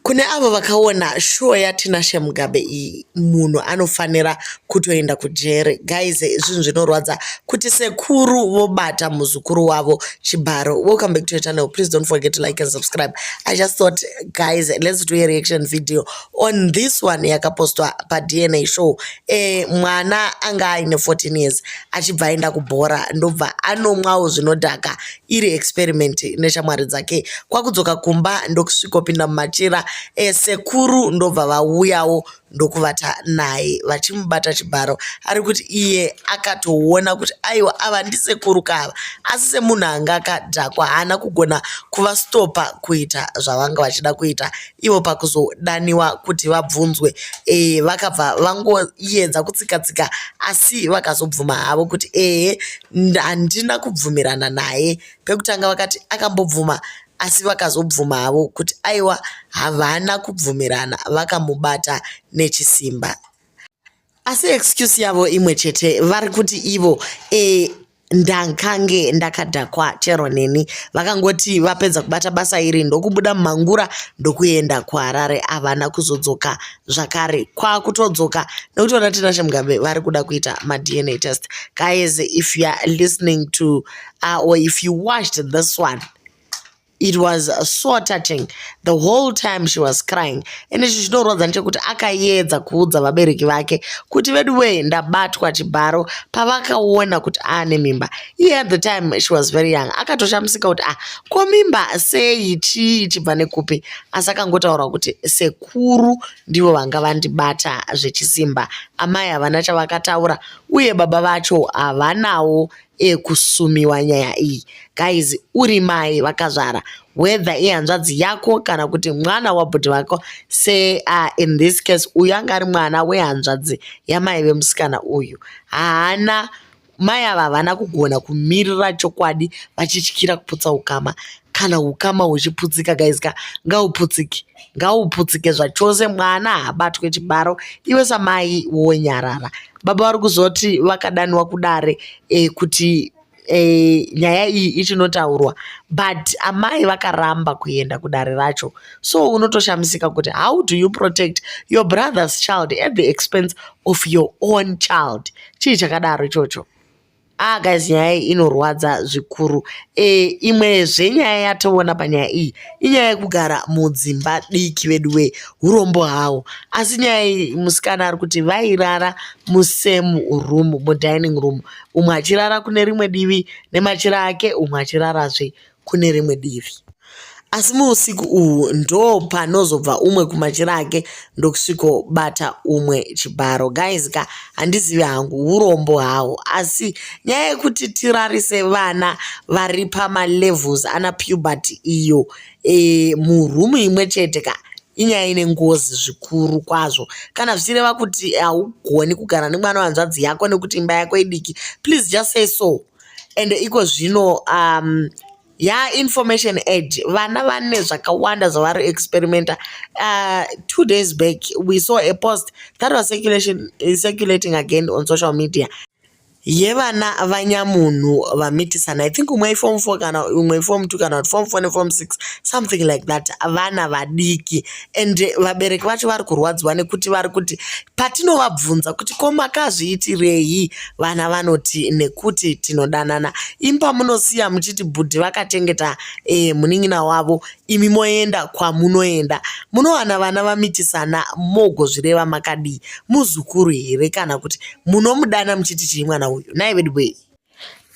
Kune avo vakaona shuwo yaTinashe Mugabe iyi munhu anofanira kutoenda kujere. Guys zvinhu zvinorwadza kuti sekuru vobata muzukuru wavo chibharo. Welcome back to your channel. Please don't forget to like and subscribe. I just thought guys let's do a reaction video on this one yakapostwa paDNA show. Eh, mwana anga aine 14 years achibva aenda kubhora ndobva anomwawo zvinodhaka iri experiment neshamwari dzake kwakudzoka kumba ndokusvikopinda mumachira esekuru eh, ndobva vauyawo ndokuvata naye vachimubata chibharo ari kuti iye akatoona kuti aiwa ava ndisekuru kava asi semunhu anga akadhakwa haana kugona kuvastopa kuita zvavanga vachida kuita ivo pakuzodaniwa kuti vabvunzwe e, vakabva vangoyedza kutsikatsika asi vakazobvuma havo kuti ehe handina kubvumirana naye pekutanga vakati akambobvuma asi vakazobvuma havo kuti aiwa havana kubvumirana vakamubata nechisimba asi excuse yavo imwe chete vari kuti ivo e, ndankange ndakadhakwa chero neni vakangoti vapedza kubata basa iri ndokubuda mumangura ndokuenda kuharare havana kuzodzoka zvakare kwakutodzoka nekuti vana tinashe mugabe vari kuda kuita madna test guys if you are listening to uh, or if you watched this one it was so touching the whole time she was crying ende ichi chinorwadza ndechekuti akayedza kuudza vabereki vake kuti vedu wee ndabatwa chibharo pavakaona kuti aane mimba iye at the time she was very young akatoshamisika kuti ah ko mimba sei chii ichibva nekupi asi akangotaura kuti seku vakuru ndivo vanga vandibata zvechisimba. Amai havana chavakataura uye baba vacho havanawo ekusumiwa nyaya iyi. Guys, uri mai vakazvara whether ihanzvadzi yako kana kuti mwana wabhudhi vako se uh, in this case uyu anga ari mwana wehanzvadzi yamai vemusikana uyu haana Mai ava havana kugona kumirira chokwadi vachityira kuputsa ukama kana ukama huchiputsika guys ka ngauputsike ngauputsike zvachose mwana haabatwe chibaro iwe samai wonyarara baba vari kuzoti vakadaniwa kudare e, kuti e, nyaya iyi ichinotaurwa but amai vakaramba kuenda kudare racho so unotoshamisika kuti how do you protect your brother's child at the expense of your own child chii chakadaro ichocho ah guys nyaya iyi inorwadza zvikuru e, imwezve nyaya yatoona panyaya iyi inyaya yekugara mudzimba diki veduwee urombo hawo asi nyaya iyi musikana ari kuti vairara musame room mudining room umwe achirara kune rimwe divi nemachira ake umwe achirarazve kune rimwe divi asi muusiku uhwu ndo panozobva umwe kumachira ake ndokusvikobata umwe chibharo guys ka handizivi hangu urombo hawo asi nyaya yekuti tirarise vana vari pamalevels ana puberty iyo e, murumu imwe chete ka inyaya ine ngozi zvikuru kwazvo kana zvichireva kuti haugoni kugara nemwana wanzvadzi yako nekuti imba yako idiki please just say so and iko zvino um, ya information age vana vane zvakawanda zvavari experimenta uh, two days back we saw a post that was circulation, uh, circulating again on social media yevana vanyamunhu vamitisana i think umwe iform four kana umwe iform two kana kuti form four neform six something like that vana vadiki and vabereki vacho vari kurwadziwa nekuti vari kuti patinovabvunza kuti ko makazviitirei vana vanoti nekuti tinodanana imba munosiya muchiti bhudhi vakachengeta e, munin'ina wavo imi moenda kwamunoenda munowana vana vamitisana mogozvireva makadii muzukuru here kana kuti munomudana muchiti chii mwana uyu naiveduwei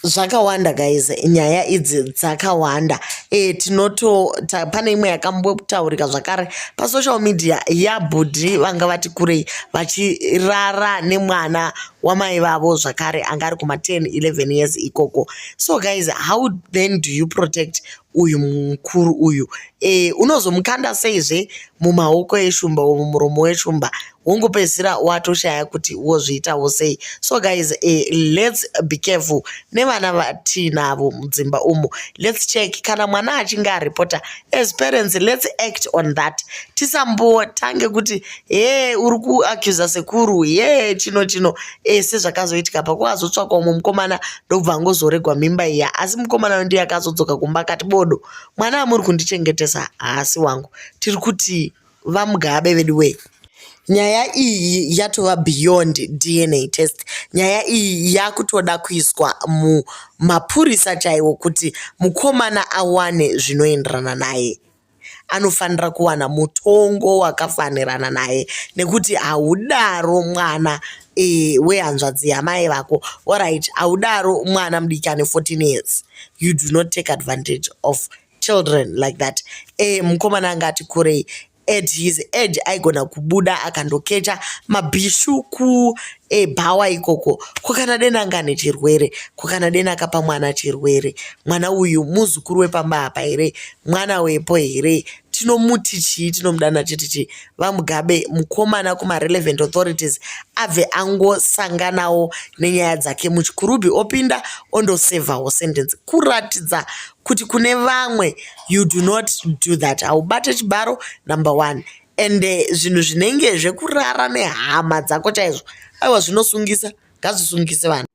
zvakawanda guys nyaya idzi dzakawanda e, tinoto ta, pane imwe yakambotaurika zvakare pasocial media yabhudhi vanga vati kurei vachirara nemwana wamai vavo zvakare anga ari kuma 10 11 years ikoko so guys how then do you protect uyu mukuru uyu e, unozomukanda seizve mumaoko eshumba or mumuromo weshumba wongopedzisira watoshaya kuti wozviitawo sei so guys e, let's be careful nevana vatiinavo mudzimba umo let's check kana mwana achinge aripota as parents let's act on that tisambotange kuti he uri kuacusa sekuru he chino chino e, sezvakazoitika pakuazotsvakwa umwe mukomana ndobva angozoregwa mimba iya asi mukomana uyu ndiye akazodzoka kumba akati bodo mwana amuri kundichengetesa haasi wangu tiri kuti vamugabe vedu wee nyaya iyi yatova beyond dna test nyaya iyi yakutoda kuiswa mumapurisa chaiwo kuti mukomana awane zvinoenderana naye anofanira kuwana mutongo wakafanirana naye nekuti haudaro mwana e, wehanzvadzi yamai vako orit haudaro mwana mudiki ane 14 years you do not take advantage of children like that e, mukomana anga ati kurei at his age aigona kubuda akandokecha mabhishu ku e bhawa ikoko ko kana deni anga ane chirwere ko kana deni akapa mwana chirwere mwana uyu muzukuru wepamba apa here mwana wepo here tinomuti chii tinomudana chiti chii vamugabe mukomana kumarelevant authorities abve angosanganawo nenyaya dzake muchikurubhi opinda ondosevhawo sentence kuratidza kuti kune vamwe you do not do that haubate chibaro number one ende zvinhu zvinenge zvekurara nehama dzako chaizvo aiwa zvinosungisa ngazvisungise vanhu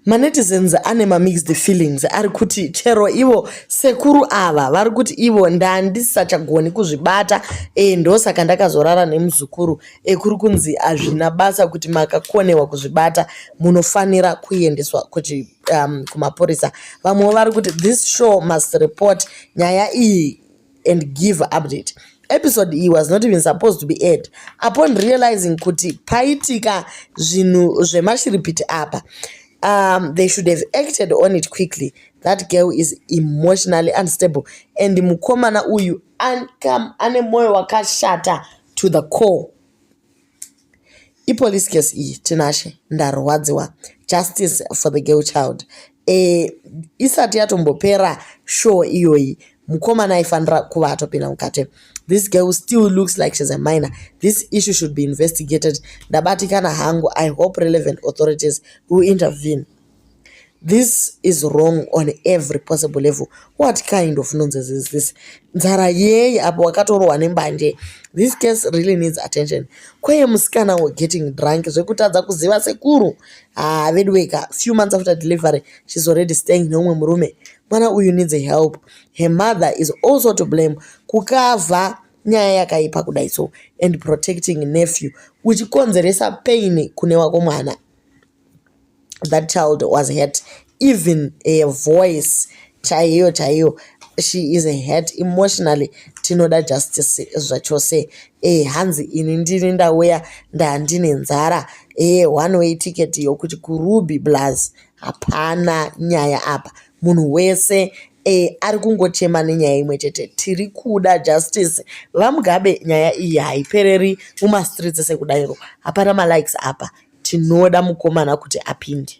manetizens ane mamixed feelings ari kuti chero ivo sekuru ava vari kuti ivo ndandisachagoni kuzvibata e ndosaka ndakazorara nemuzukuru ekuri kunzi hazvina basa kuti makakonewa kuzvibata munofanira kuendeswa kuti um, kumapurisa vamwewo vari kuti this show must report nyaya iyi and give update episode iyi was not even supposed to be aired upon realizing kuti paitika zvinhu zvemashiripiti apa um, they should have acted on it quickly that girl is emotionally unstable and mukomana uyu ane mwoyo wakashata to the core ipolice case iyi tinashe ndarwadziwa justice for the girl child eh, isati yatombopera show iyoyi mukomana aifanira kuva atopinda mukati this girl still looks like she's a minor this issue should be investigated ndabatikana hangu i hope relevant authorities will intervene This is wrong on every possible level. What kind of nonsense is this? Nzara yei apo wakatorohwa nembanje. This case really needs attention. Kweye musikana were getting drunk zvekutadza kuziva sekuru. Ah, veduweka, few months after delivery, she's already staying neumwe murume. Mwana uyu needs help. Her mother is also to blame. Kukava nyaya yakaipa kudai so and protecting nephew uchikonzeresa pain kune wako mwana. that child was hurt even a voice chaiyo chaiyo she is hurt emotionally tinoda justice zvachose e hanzi ini ndini ndauya ndandine nzara e one way ticket yokuti kuruby blaz hapana nyaya apa munhu wese e ari kungochema nenyaya imwe chete tiri kuda justice vamugabe nyaya iyi haipereri mumastreets sekudairo hapana malikes apa Tinoda mukomana kuti apinde.